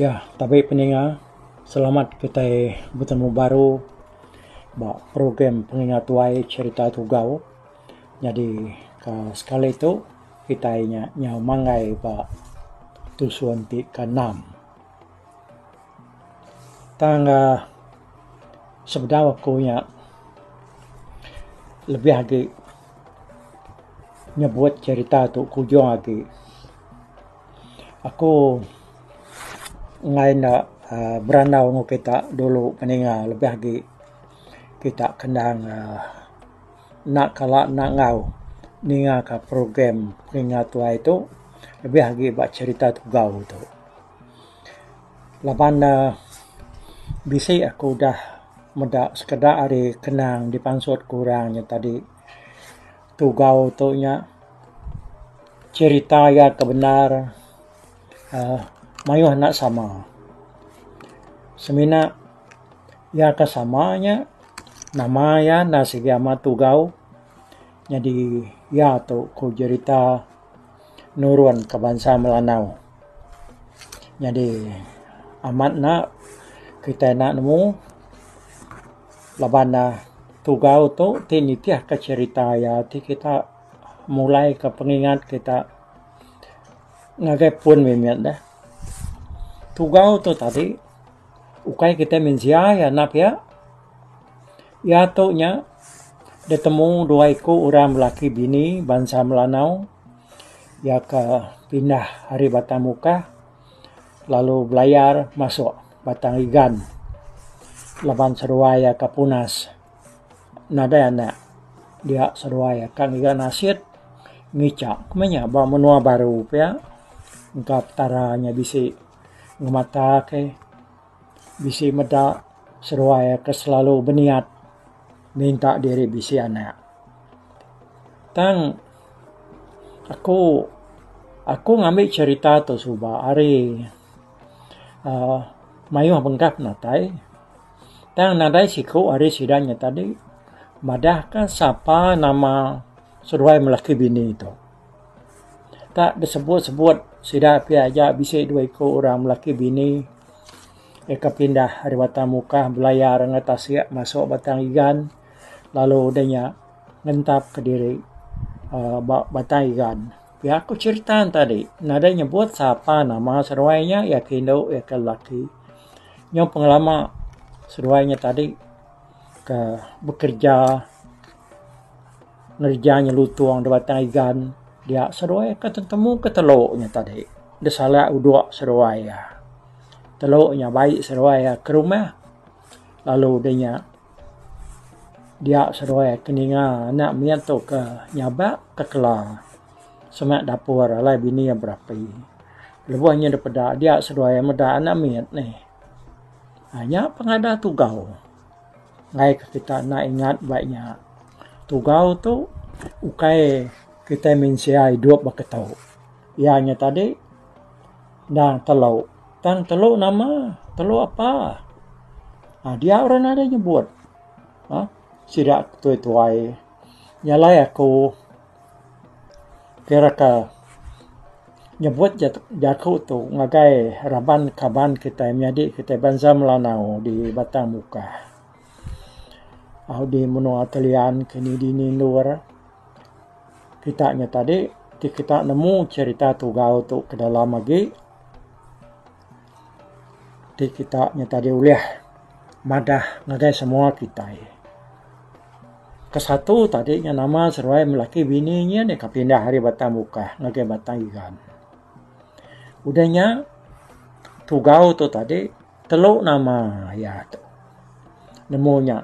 Ya, tabi peninga, selamat kitai betemu baru ba program Penginga Tuai Cherita Tugau. Nyadi ka sekali tu kitai nya nyau manggai ba tusun ti keenam. Tang uhh sebedau aku nya lebih agi nyebut cerita tu kujung agi aku ngai ne uhh berandau neg kita dulu mendinga lebih agi kita kendang uhh. Enda kala enda enggau ninga ka program Telinga Tuai tu lebih agi ba cherita tugau tu laban ne bisi aku udah meda sekeda ari kenang dipansut ku orang nya tadi tugau tu nya cherita iya ke bendar uhh mayuh enda sama semina. Iya ka sama nya nama iya enda sigi amat tugau nyadi iya tu ku jerita nurun ka bansa melanau nyadi amat enda kitai enda nemu laban ne tugau tu ti nitih ka jerita iya ti kita mulai ka pengingat kita ngagai pun mih mih deh tugau tu tadi. Ukai kitai mensia iya anak iya. Iya tu nya ditemu dua iku orang lelaki bini bansa Melanau iya ke pindah ari Batang Mukah lalu belayar masuk Batang Igan laban seduai iya ke punas nadai anak. Dia seduai iya ke ngiga nasit ngicha meh iya ba menua baru pia engka petara iya bisi. ngemata ke bisi meda seruai ke selalu beniat minta diri bisi anak tang aku aku ngambi cerita tu suba hari uhh mayuh bengkah penatai tang nadai siku ari sida nyatadi madah ka sapa nama seruai melaki bini tu. Ka besebut-sebut sida ti aja bisi dua iku orang lelaki bini deka pindah ari Batang Mukah belayar enggau tasik masuk Batang Igan lalu udah nya ngentap ke diri aaa ba Batang Igan. Pia ku cherita ne tadi nadai nyebut sapa nama seduai nya iya ke indu iya ke lelaki. Nyau pengelama seduai nya tadi ke bekereja. ngereja inya lutung da batang igan dia seduai ka tetemu ka telo inya tadi da sala udok seduai iya. Telo inya bai seduai iya ka rumah lalu da inya dia seduai ka ninga anak meh tu ka nyaba ka kela sema dapur alai bini iya berapi. Lebuh inya da peda dia seduai iya meda anak mit nih. Inya pengadah tugau. ngaika kita enda ingat ba iya. Tugau tu ukai kita mensia idup ba keto iya nya tadi nang telo tang telo nama telo apa aaa dia orang nadai nyebut aaa sida tuai-tuai nya alai aku. Kira ka nyebut ja jaku tu ngagai raban kaban kitai menyadi kitai bansa Melanau di Batang Mukah au di menua Kelian kini dini endur kita nya tadi ti kita nemu cherita tugau tu ke dalam agi Ti kita nya tadi ulih madah ngagai semua kitai. Ke satu tadi nya nama seruai laki bini nya nih ka pindah ari Batang Bukah ngagai Batang Igan. Udah nya tugau tu tadi telu nama iya tu nemu nya.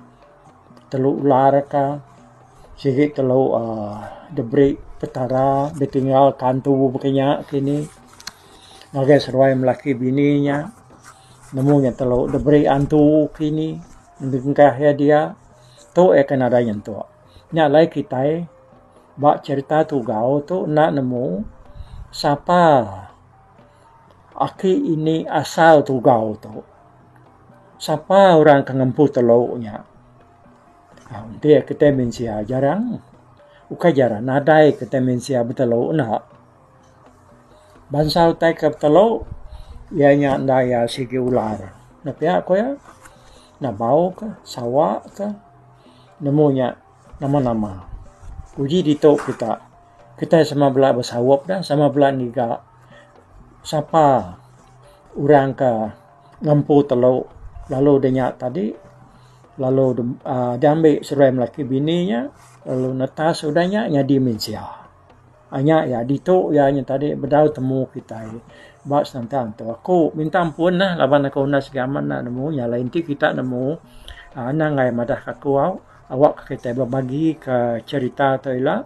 telu ular ka sigi telu uhh diberi petara ditinggal ka antu baka inya kini ngagai seduai ama laki bini inya nemu inya telu diberi antu kini dengkah iya dia tu iya ke nadai nyentuk nya alai kitai ba cherita tugau tu enda nemu sapa aki ini asal tugau tu. Sapa orang ke ngempu telu nya? Enti kita mensia jarang, ukai jarang nadai kita mensia betelu enda. Bansa utai ke betelu iya nya enda iya sigi ular. Nya pia ku iya, Nabau ka, Sawa ka, nemu nya nama-nama. Uji ditu kita, kita sama bala besaup dah, sama bala ngiga. Sapa orang ke ngempu telu lalu deh nya tadi lalu deh ambi seruai lelaki bini nya lalu netas udah nya nyadi mensia. Nya iya ditu iya nya tadi bedau temu kitai ba Santang tu. Aku minta ampun lah laban aku enda sida amat enda nemu nya lain ti kita nemu uhh anang angai madah aku au awak kitai bebagi ka cherita tu ila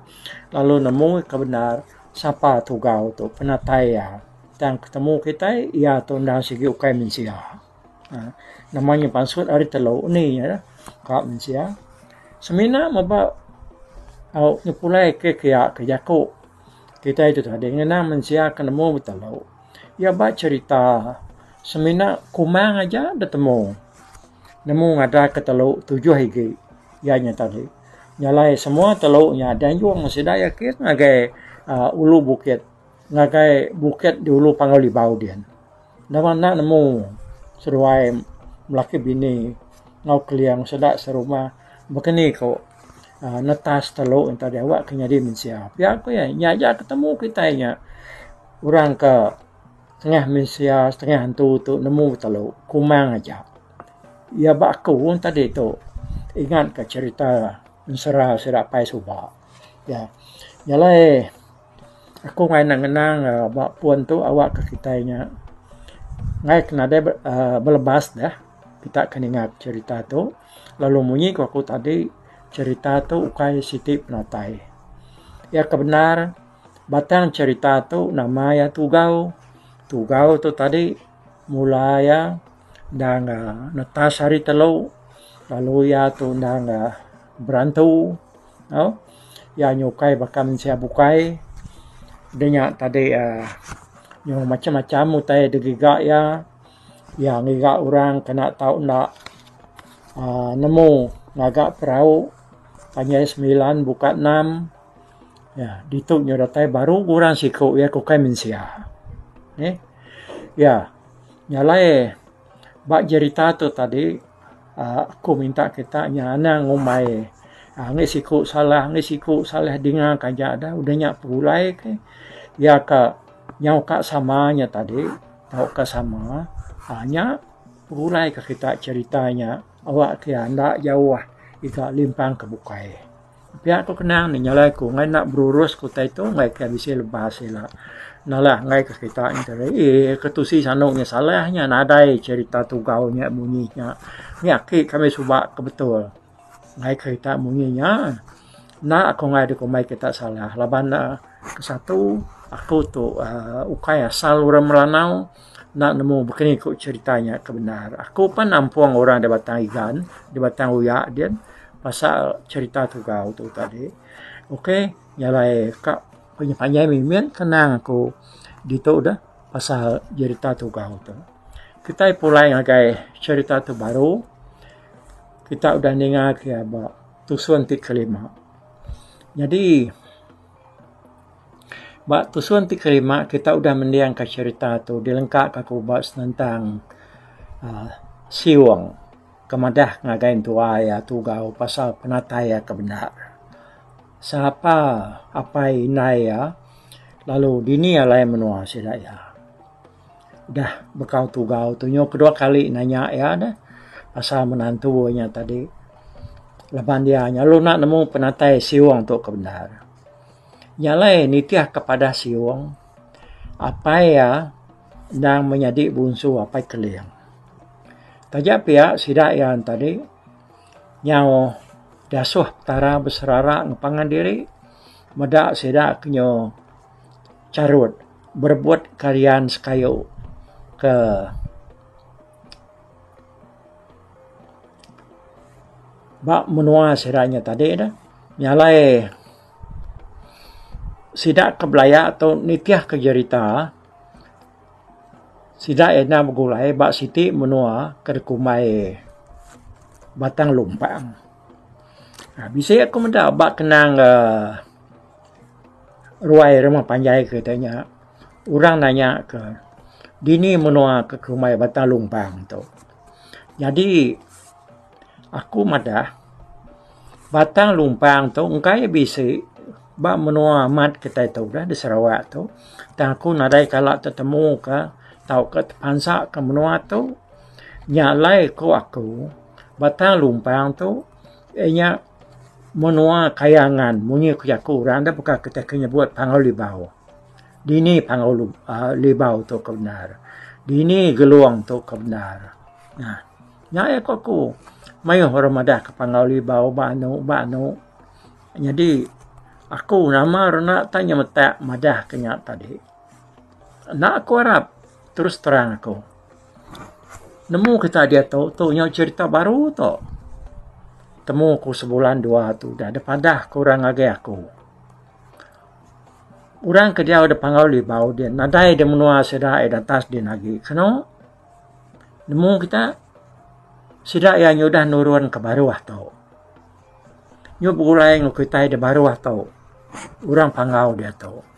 lalu nemu ka bendar. Sapa Tugau tu penatai iya tang ketemu kitai iya tu enda sigi ukai mensia. Nama nya pansut ari telu undi nya dah ka mensia. Semina meba au nyepulai ke kiya ke jaku kitai tu tadi ngena mensia ke nemu betelu iya ba cherita semina kumang aja betemu nemu ngadan ke telu tujuh igi. Iya nya tadi nyalai semua telu nya dianjung sida yakin ngagai uh, ulu bukit ngagai bukit di ulu Panggau Libau din. Nama enda nemu seduai melaki bini enggau keling sida serumah bekeni ko uh, netas telu nya tadi awak ke nyadi mensia. Pia ko iya nya aja ke temu kitai nya orang ke setengah mensia setengah antu tu nemu betelu kumang aja. Iya ba aku tadi tu ingat ka cerita ensera sida apai suba iya jalai aku angai ne ngenang ba pun tu awa ka kitai nya angai ke nadai uhh belebas deh kita ke ninga cerita tu lalu munyi ku aku tadi cerita tu ukai siti penatai iya ke bendar batang cerita tu nama iya Tugau. Tugau tu tadi. Mula iya endang ga netas hari telu lalu iya tu endang ga berantu au iya nyukai baka mensia bukai deh nya tadi uhh nyuai macam macam utai da giga iya. Iya ngiga orang kena tau enda uhh nemu ngaga perau panjai semilan buka enam. Ya, ditu nyu datai baru orang siku iya ke ukai mensia. Neh. Ya. Nya alai ba jerita tu tadi aaa aku minta kita nya anang ngumbai aaa ngi siku salah ngi siku salah dinga ka aja dah udah nya pegulai ke iya ka nyau ka sama nya tadi tau ka sama aaa nya pegulai ka kita jerita nya awak ke enda jauh iga limpang ke bukai. Pia ku kenang ni nyalai ku ngai enda berurus ke utai tu ngai ke bisi lebas ila nalah ngai ke kita nyi tadi ii ke tusi sandu nyi salah nya nadai cerita tugau nya munyi nya nya aki kami suba ke betul ngai ke kita munyi nya enda ku ngai dikumbai kita salah laban ne ke satu aku tu aaa ukai asal orang Melanau. Enda nemu baka ni ku cherita nya ke bendar. Aku pan nampung orang da Batang Igan, da Batang Uya din pasal cherita tugau tu tadi. Ok nya alai ka panjai panjai mimin kenang aku ditu deh pasal cherita tugau tu. Kitai pulai ngagai cherita ti baru kita udah ninga ke ba tusun ti kelima. Nyadi. Ba tusun ti kelima kita udah mendingka cherita tu dilengka ka ku ba senentang aaa siung ke madah ngagai entua iya tugau pasal penatai iya ke benda. Sapa apai indai iya lalu dini alai menua sida iya. Udah bekau tugau Tunyo kedua kali nanya iya deh pasal menantu inya tadi laban iya nyelalu enda nemu penatai siung tu ke bendar. Iya alai nitih ke padah siung apai iya endang menyadi bunsu apai Keling. Taja pia sida iya tadi nyau diasuh Petara beserara ngepangan diri meda sida ke nyo. Charut, berebut karian sekayu ke ba menua sida nya tadi ne nyalai sida ke belaya tu nitih ke jerita sida ina begulai ba siti menua ke dikumbai Batang Lumpang. Bisi ku meda ba kenang uhh Ruai rumah panjai kita nya orang nanya ke dini menua ke kumbai Batang Lumbang tu. Jadi aku madah Batang Lumbang tu engkai bisi ba menua amat kita tu dah di Sarawak tu tang aku nadai kala tetemu ka tauka tepansa ka menua tu. Nya alai ku aku Batang Lumbang tu iya nya Menua Kayangan, munyi ku jaku orang da baka kita ke nyebut Panggau Libau. Dini Panggau Lu uhh Libau tu ke bendar. Dini Gelong tu ke bendar. Nah, nya iya ku aku. Mayuh orang madah ke Panggau Libau ba anu ba anu. Nyadi aku nama ra enda ta nyemetak madah ke nya tadi. Enda ku arap, terus terang aku. Nemu kita aja tu tu nyau cerita baru tu. Temu ku sebulan dua tu udah deh padah ku orang ngagai aku. Orang ke diau deh pangau libau deh nadai deh menua sida ai datas din agi keno. Nemu kita sida iya udah nurun ke baruh tu. Nyu begulai ngu kitai da baruh tu. Orang pangau diatu.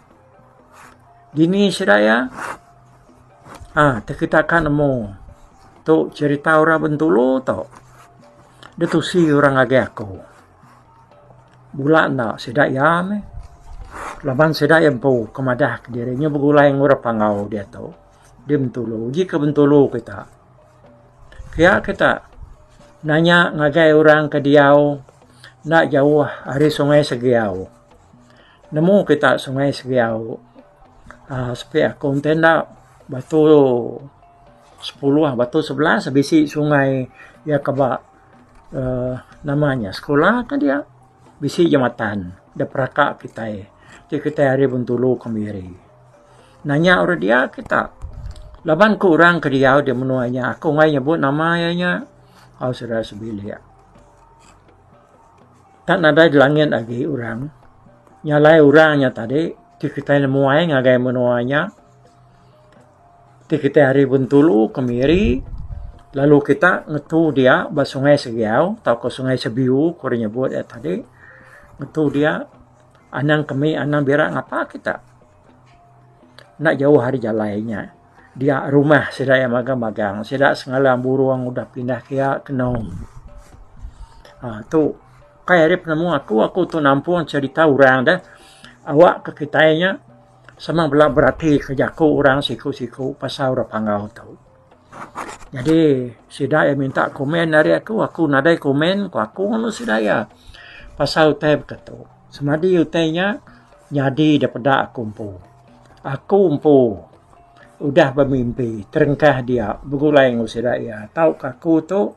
Dini sida iya? Ah, ti kitak ka nemu. Tu cherita orang Bintulu tu. Da tusi orang agik aku. Bula enda sida iya meh. Laban sida iya empu ke madah ke diri inya begulai enggau orang Panggau diatu. Di Bintulu. Ji ke Bintulu kitak. Kiya kitak nanya ngagai orang ke diau enda jauh ari Sungai Segiau. Nemu kita sungai Segiau aaa sepi aku enti enda batu sepuluh batu sebelas bisi sungai iya ke ba aaa nama nya sekula ka dia bisi jematan da peraka kitai ti kitai ari Bintulu kemiri. Nanya ora dia kita laban ku orang ke diau di menua nya aku meh nyebut nama iya nya au sida sebilik. Enda nadai di langit agi orang nya alai orang nya tadi ti kitai nemuai ngagai menua nya ti kitai ari Bintulu, Kemiri lalu kita ngetu dia ba Sungai Segiau tauka Sungai Sebiu ku orang nyebut iya tadi ngetu dia anang kemi anang bira ngapa kita enda jauh ari jalai nya. Dia rumah sida iya magang-magang. Sida sengalang burung udah pindah ke iya ke enum. Um tu kai ari penemu aku, aku tu nampung cherita orang deh awak ke kitai nya sama bala berati ke jaku orang siku-siku pasal orang Panggau tu. Jadi sida iya minta komen ari aku, aku nadai komen ku aku nemu sida iya pasal utai baka tu. Semadi utai nya nyadi daripada aku empu. Aku empu udah bemimpi terengkah dia begulai enggau sida iya tauka aku tu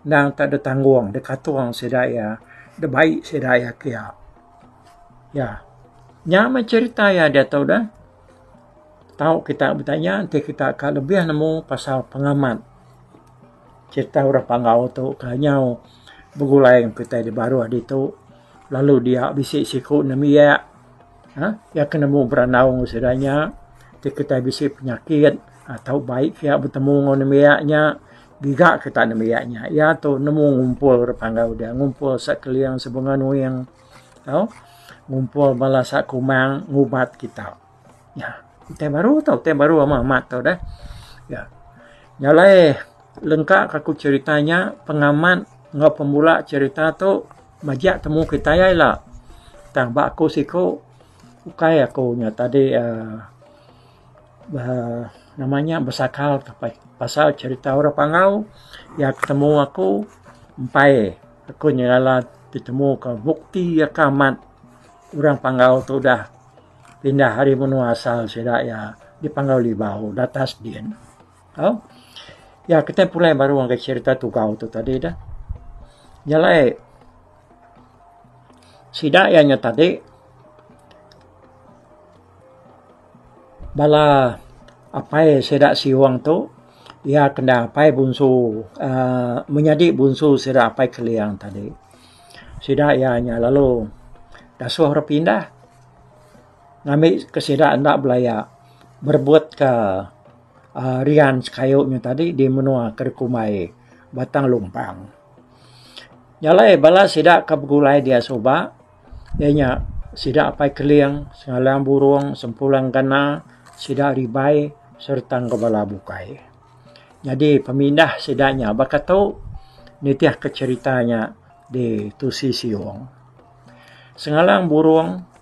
endang tak ada tanggung dep katung sida iya dep bai sida iya kia. Ya nya meh cherita iya diatu deh tau kita betanya enti kita ka lebih nemu pasal pengamat cherita orang Panggau tu ka nyau begulai enggau kitai di baruh ditu lalu dia bisi siku nemiak. Iya ke nemu berandau ngan sida nya ti kitai bisi penyakit tau baik pia betemu ngan nembiak iya nya giga kita nembiak iya nya. Iya tu nemu ngumpul rak panggau deh ngumpul sekeliling sebenga nuing tau ngumpul bala sak kumang ngubat kita. Nya utai baru tu utai baru amat amat tu deh. Nya alai lengka ka ku cerita nya pengamat enggau pemula cerita tu. Majak temu kitai ai la. Tang ba aku siku ukai aku nya tadi uhh uhh nama nya besakal ka pah pasal cherita orang panggau iya ke temu aku empai aku nya iya lah ditemu ka bukti ka amat orang panggau tu udah pindah ari menua asal sida iya di Panggau Libau datas din. Ha? Ya, kita pulai baru orang kata cerita tugau tu tadi dah. Jalai, sida ianya tadi, bala apai sida siwang tu, ia kena apai bunsu, uh, menyadi bunsu sida apai keliang tadi. Sida ianya lalu, dasuh orang pindah, ngambil ke sida enda belaya, berbuat ke Uh, rian sekayu nyu tadi di menua ke dikumbai Batang Lumpang. Jalai bala sida ke begulai dia suba iya nya sida Apai Keling, Sengalang Burong, Sempulang Gana, sida ari Bai sereta enggau bala bukai. Nyadi pemindah sida nya baka tu nitihka cherita nya di Tusi Siong. Sengalang Burong.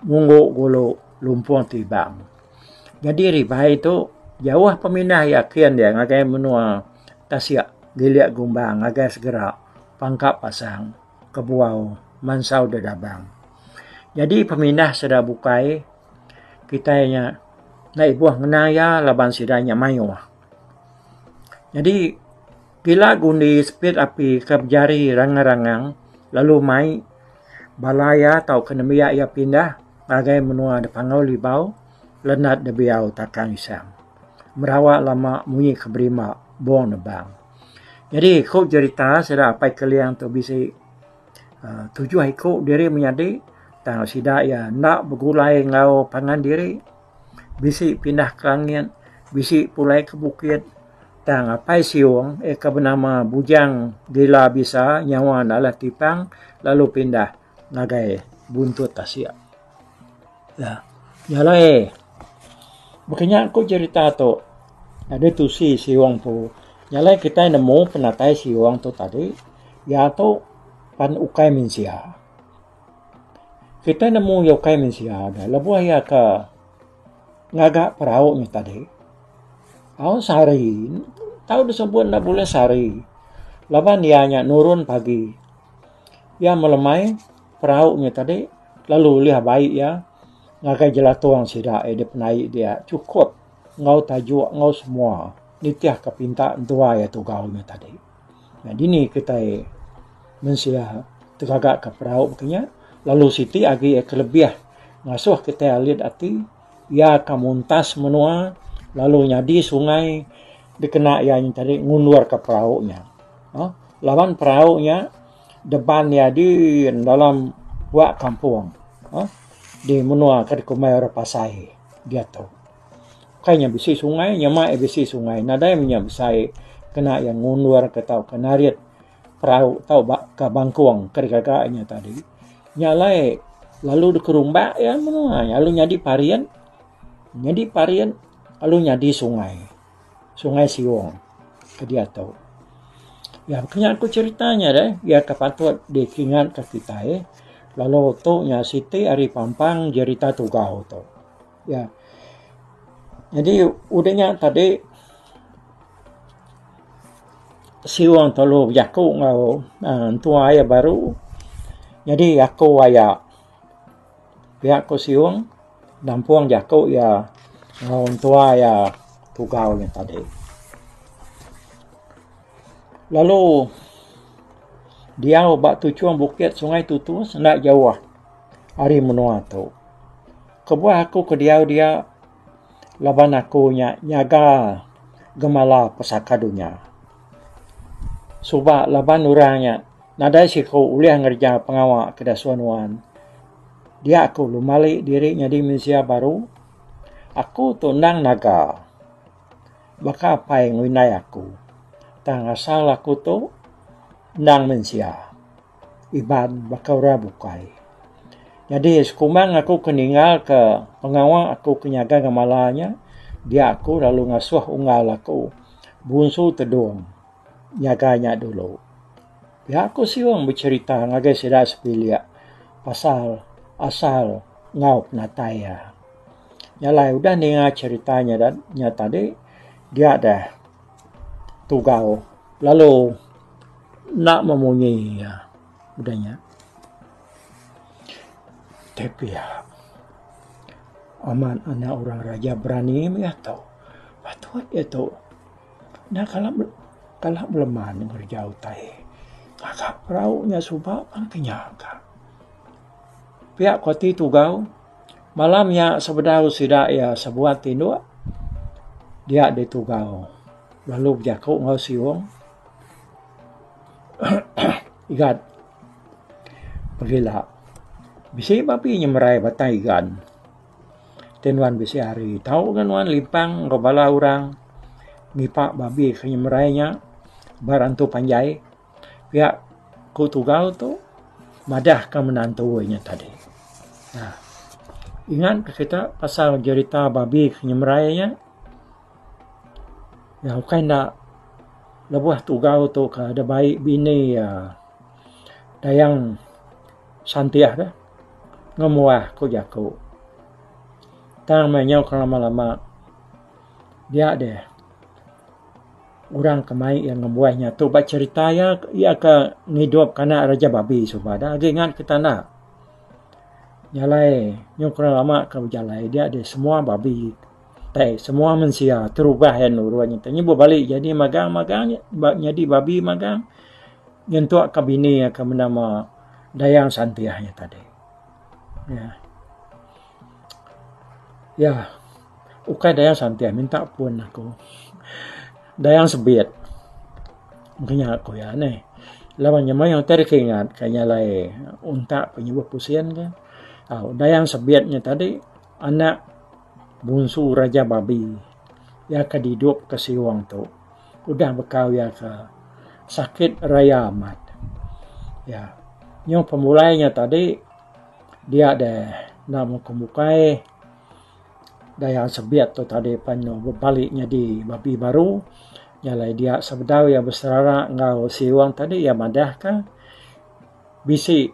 Ngunggu gulu lumpung ti ibang. Nyadi ribai tu jauh pemindah iya kin dia ngagai menua tasik gilik gumbang ngagai segera pangka pasang kebuau mansau dedabang. Nyadi pemindah sida bukai kitai nya enda ibuh ngena iya laban sida nya mayuh. Nyadi. Pila ke undi sepit api ke bejari rangang-rangang lalu mai bala iya tauka nembiak iya pindah ngagai menua da Panggau Libau, Lenat da Biau Takang Isang. Merawa lama munyi ke berima Bong Nebang. Jadi ku jerita sida Apai Keling tu bisi uhh tujuh iku diri menyadi tang sida iya enda begulai enggau pangan diri. Bisi pindah ke langit, bisi pulai ke bukit. Tang Apai Siong eh ke benama Bujang Gila Bisa nyawa ne alah tipang lalu pindah ngagai buntut tasik. Nya alai baka nya ku cerita tu deh tusi Siong tu. Nya alai kitai nemu penatai Siong tu tadi. Iya tu pan ukai mensia. Kita nemu iya ukai mensia nya lebuh iya ka ngaga perau nya tadi. Au sehari, tau disebut ne buleh sehari laban iya nya nurun pagi. Iya melemai perau nya tadi lalu ulih abai iya ngagai jelatung sida iya dep naik dia chukut enggau tajuk enggau semua nitihka pinta entua iya tugau nya tadi. Dini kitai mensia tegagaka perau baka nya lalu siti agi iya ke lebih ngasuh kitai alit ati iya ka muntas menua lalu nyadi sungai dikena iya nya tadi ngundur ka perau nya aaa laban perau nya deban nyadi dalam bua kampung aaa di menua ke dikumbai orang pasai diatu. Kai nya bisi sungai, nyema iya bisi sungai. Nadai meh nya besai kena iya ngundurka tauka narit perau tau ba ka bangkong ka digaga inya tadi. Nya alai lalu deka rumba iya meh nengah iya lalu nyadi parit, nyadi parit lalu nyadi sungai. Sungai Siong ke diatu. Iya meh kinya ku cherita nya deh iya ke patut dikingatka kitai lalu tu nya siti ari pampang jerita tugau tu. Ya. Nyadi udah nya tadi siu orang tolu bejaku enggau uhh entua iya baru nyadi aku aya pia ku siung nampung jaku iya enggau entua iya tugau nya tadi. Lalu diau ba tuchung bukit Sungai Tutus enda jauh ari menua tu. Kebuah aku ke diau dia laban aku nya nyaga gemala pesaka dunya. Suba laban orang nya nadai siku ulih ngereja pengawa ke disuah nuan. Dia aku ngemali diri nyadi mensia baru, aku tu endang naga. Baka apai ngelindai aku tang asal aku tu endang mensia. Iban baka orang bukai. Nyadi sekumbang aku ke ninga ke pengawa aku ke nyaga ngemala nya dia aku lalu ngasuh unggal aku Bunsu Tedong nyaga nya dulu. Pia aku siung becerita ngagai sida sepilik pasal asal enggau penatai iya. Nya alai udah ninga cerita nya tadi dia deh. Tugau lalu enda memunyi iya udah nya. Te pia amat anak orang raja berani mega tu. Patut iya tu enda kala kala beleman ngereja utai ngaga perau nya suba pun ke nya ka. Pia ko ti tugau. Malam nya sebedau sida iya sebuat tinduk dia di Tugau lalu bejaku enggau Siong Igat pegila bisi babi nyemerai batang igan ti nuan bisi hari tau ga nuan limpang enggau bala orang ngipak babi ke nyemerai nya ba rantu panjai. Pia ku tunggal tu madah ka menantu inya tadi uhh ingat ka kita pasal jerita babi ke nyemerai inya nyau ka enda lebuh tunggal tu ka da bai bini iya Dayang Santih ka ngemuah ku jaku tang meh nyau ka lama lama dia deh. Orang ke mai iya ngembuan inya tu ba cherita iya, iya ke ngidup ke anak Raja Babi suba da agi ngan Ketanda. Jalai nyuka orang lama ke bejalai dia deh semua babi tai semua mensia terubah iya nurun nyen tu nyi beh bali jadi magang magang nyadi babi magang nyentuk ke bini iya ke benama Dayang Santiah nya tadi. Iya. Ukai Dayang Santeh minta pun aku. Dayang Sebit. Engka nya ku iya neh. Laban nya mayuh utai deka ingat ka inya alai untak ka nyebut pusien ka. Au, Dayang Sebit nya tadi anak bungsu Raja Babi. Iya ke didup ka Siong tu. Udah bekau iya ka sakit raya amat. Ya. Nyuh pemulai nya tadi dia deh enda mukung bukai. Dayang Sebit tu tadi pen lu bebali nyadi babi baru nya alai dia sebedau iya beserara enggau Seung tadi iya madah ka bisi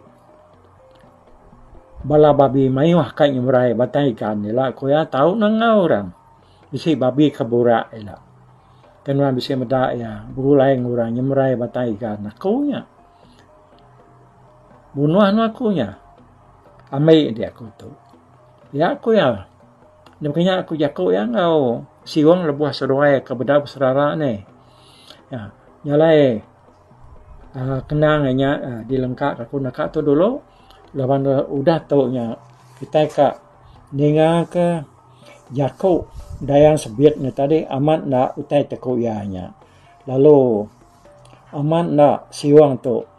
bala babi mayuh ka nyeberai ba taikan ila ku iya tau nengau ra bisi babi ke burak ila ke nuan bisi meda iya begulai enggau orang nyeberai ba taikan aku nya bunuh ne aku nya ambi dia aku tu. Iya ku iya. Demikian aku jaku iya enggau siung lebuh seduai ke bedau beserara nih. Iya jalai aaa kenang inya aaa dilengka ka aku neka tu dulu laban udah tu nya kitai ka ninga ke jaku Dayang Sbit nya tadi amat enda utai te ku iya nya. Lalu amat enda siung tu.